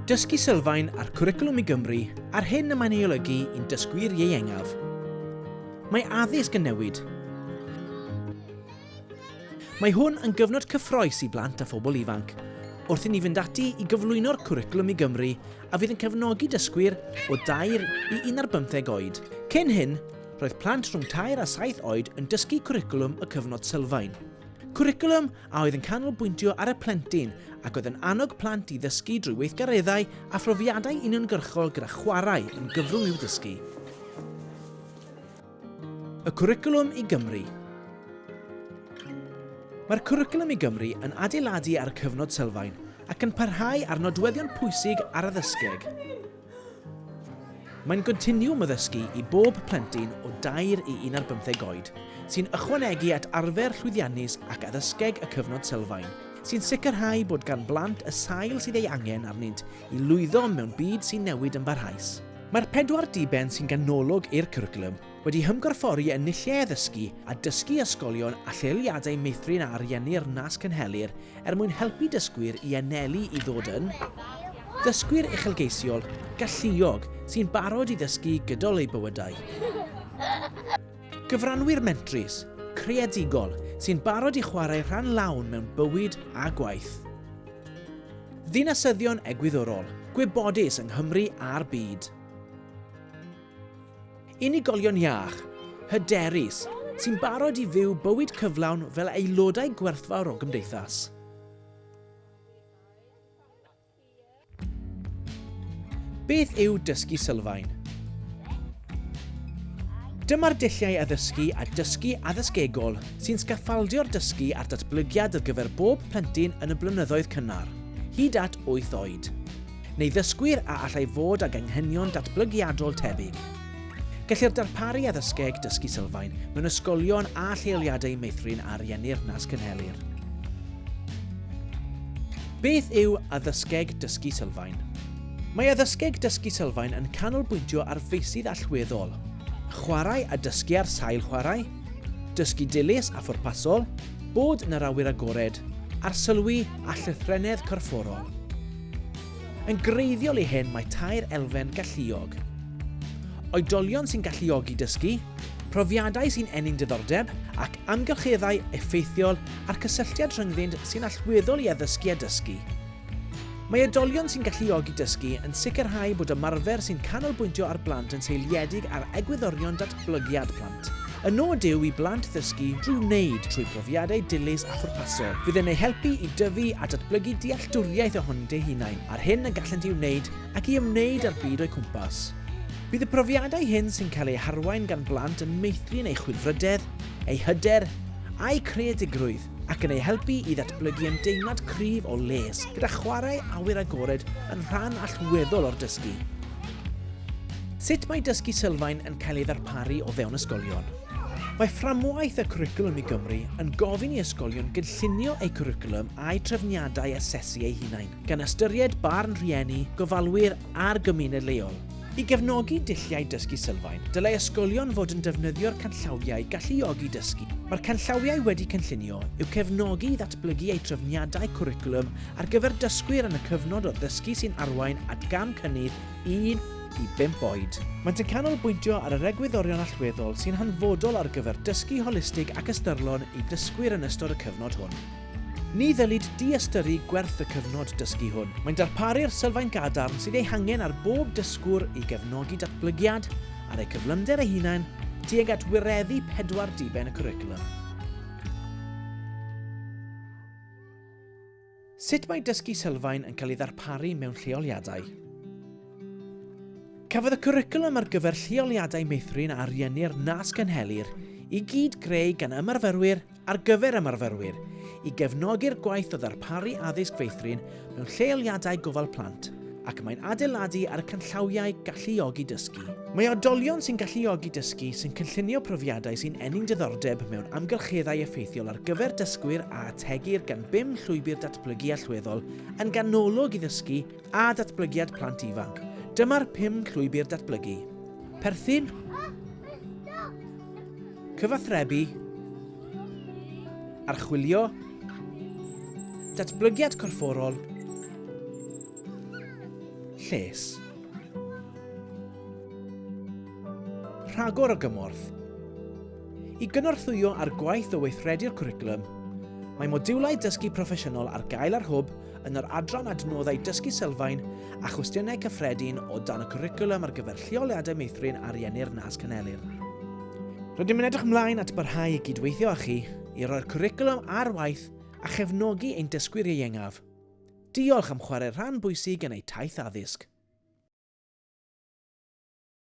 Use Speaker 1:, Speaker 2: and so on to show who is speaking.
Speaker 1: Dysgu sylfaen a'r cwricwlwm i Gymru a'r hyn y mae'n ei olygu i'n dysgwyr ieuengaf. Mae addysg yn newid. Mae hwn yn gyfnod cyffroes i blant a phobl ifanc, wrth i ni fynd ati i gyflwyno'r cwricwlwm i Gymru a fydd yn cefnogi dysgwyr o 2 i 15 oed. Cyn hyn, roedd plant rhwng 3 a 7 oed yn dysgu cwricwlwm y cyfnod sylfaen. Cwricwlwm a oedd yn canolbwyntio ar y plentyn ac oedd yn annog plant i ddysgu drwy weithgareddau a phrofiadau uniongyrchol gyda chwarae yn gyfrwng i'w ddysgu. Y cwricwlwm i Gymru Mae'r cwricwlwm i Gymru yn adeiladu ar y cyfnod sylfaen ac yn parhau ar nodweddion pwysig ar addysgeg. Mae'n gontiniwwm o ddysgu i bob plentyn o dair i un ar bymtheg oed, sy'n ychwanegu at arfer llwyddiannus ac addysgeg y Cyfnod Sylfaen, sy'n sicrhau bod gan blant y sail sydd ei angen arnynt i lwyddo mewn byd sy'n newid yn barhaus. Mae'r pedwar diben sy'n ganolog i'r cwricwlwm, wedi hymgorffori yn lle addysgu a dysgu ysgolion a lleoliadau meithrin a ariennir nas cynhelir er mwyn helpu dysgwyr i anelu i ddod yn ddysgwyr uchelgeisiol, galluog, sy'n barod i ddysgu gydol eu bywydau. Gyfranwyr mentrus, creadigol, sy'n barod i chwarae rhan lawn mewn bywyd a gwaith. Ddinasyddion egwyddorol, gwybodus yng Nghymru a'r byd. Unigolion iach, hyderus, sy'n barod i fyw bywyd cyflawn fel aelodau gwerthfawr o gymdeithas. Beth yw dysgu sylfaen? Dyma'r dulliau addysgu a dysgu addysgegol sy'n sgaffaldio'r dysgu a'r datblygiad ar gyfer bob plentyn yn y blynyddoedd cynnar, hyd at 8 oed. neu ddysgwyr a allai fod ag anghenion datblygiadol tebyg. Gellir darparu addysgeg dysgu sylfaen mewn ysgolion a lleoliadau meithrin a ariennir nas cynhelir. Beth yw addysgeg dysgu sylfaen? Mae addysgeg dysgu sylfaen yn canolbwyntio ar feysydd allweddol, chwarae a dysgu ar sail chwarae, dysgu dilys a phwrpasol, bod yn yr awyr agored, arsylwi a llythrennedd corfforol. Yn greiddiol i hyn mae tair elfen galluog, oedolion sy'n galluogi dysgu, profiadau sy'n ennyn diddordeb, ac amgylcheddau effeithiol a'r cysylltiad rhyngddynt sy'n allweddol i addysgu a dysgu. Mae oedolion sy'n galluogi dysgu yn sicrhau bod ymarfer sy'n canolbwyntio ar blant yn seiliedig ar egwyddorion datblygiad plant. Y nod yw i blant ddysgu drwy wneud, trwy brofiadau dilys a phwrpasol. Fydd yn eu helpu i dyfu a datblygu dealltwriaeth ohonynt eu hunain, a'r hyn y gallent ei wneud ac i ymwneud â'r byd o'u cwmpas. Bydd y profiadau hyn sy'n cael eu harwain gan blant yn meithrin eu chwilfrydedd, eu hyder, a'u creadigrwydd. ac yn eu helpu i ddatblygu ymdeimlad cryf o les, gyda chwarae awyr agored yn rhan allweddol o'r dysgu. Sut mae dysgu sylfaen yn cael ei ddarparu o fewn ysgolion? Mae fframwaith y cwricwlwm i Gymru yn gofyn i ysgolion gynllunio eu cwricwlwm a'u trefniadau asesu eu hunain, gan ystyried barn rhieni, gofalwyr a'r gymuned leol. I gefnogi dulliau dysgu sylfaen, dylai ysgolion fod yn defnyddio'r canllawiau galluogi dysgu. Mae'r canllawiau wedi cynllunio i'w cefnogi i ddatblygu eu trefniadau cwricwlwm ar gyfer dysgwyr yn y cyfnod o ddysgu sy'n arwain at gam cynnydd 1 i 5 oed. Maent yn canolbwyntio ar yr egwyddorion allweddol sy'n hanfodol ar gyfer dysgu holistig ac ystyrlon i ddysgwyr yn ystod y cyfnod hwn. Ni ddylid diystyru gwerth y cyfnod dysgu hwn. Mae'n darparu'r sylfaen gadarn sydd ei hangen ar bob dysgwr i gefnogi datblygiad ar eu cyflymder eu hunain tuag at wireddu pedwar diben y cwricwlwm. Sut mae dysgu sylfaen yn cael ei ddarparu mewn lleoliadau? Cafodd y cwricwlwm ar gyfer lleoliadau meithrin a ariennir nas gynhelir i gyd greu gan ymarferwyr ar gyfer ymarferwyr i gefnogi'r gwaith o ddarparu addysg feithrin mewn lleoliadau gofal plant ac mae'n adeiladu ar y canllawiau galluogi dysgu. Mae oedolion sy'n galluogi dysgu sy'n cynllunio profiadau sy'n ennyn diddordeb mewn amgylcheddau effeithiol ar gyfer dysgwyr a ategir gan bum llwybr datblygu allweddol yn ganolog i ddysgu a datblygiad plant ifanc. Dyma'r pum llwybr datblygu. Perthyn, Cyfathrebu, archwilio, datblygiad corfforol, lles. Rhagor o gymorth. I gynorthwyo ar gwaith o weithredu'r cwricwlwm, mae modiwlau dysgu proffesiynol ar gael ar hwb yn yr adran Adnoddau Dysgu Sylfaen a Chwestiynau Cyffredin o dan y Cwricwlwm ar gyfer Lleoliadau Meithrin a Rieni'r Nas Canelir. Rydym yn edrych ymlaen at barhau i gydweithio â chi i roi'r cwricwlwm ar waith a chefnogi ein dysgwyr ieuengaf. Diolch am chwarae rhan bwysig yn eu taith addysg.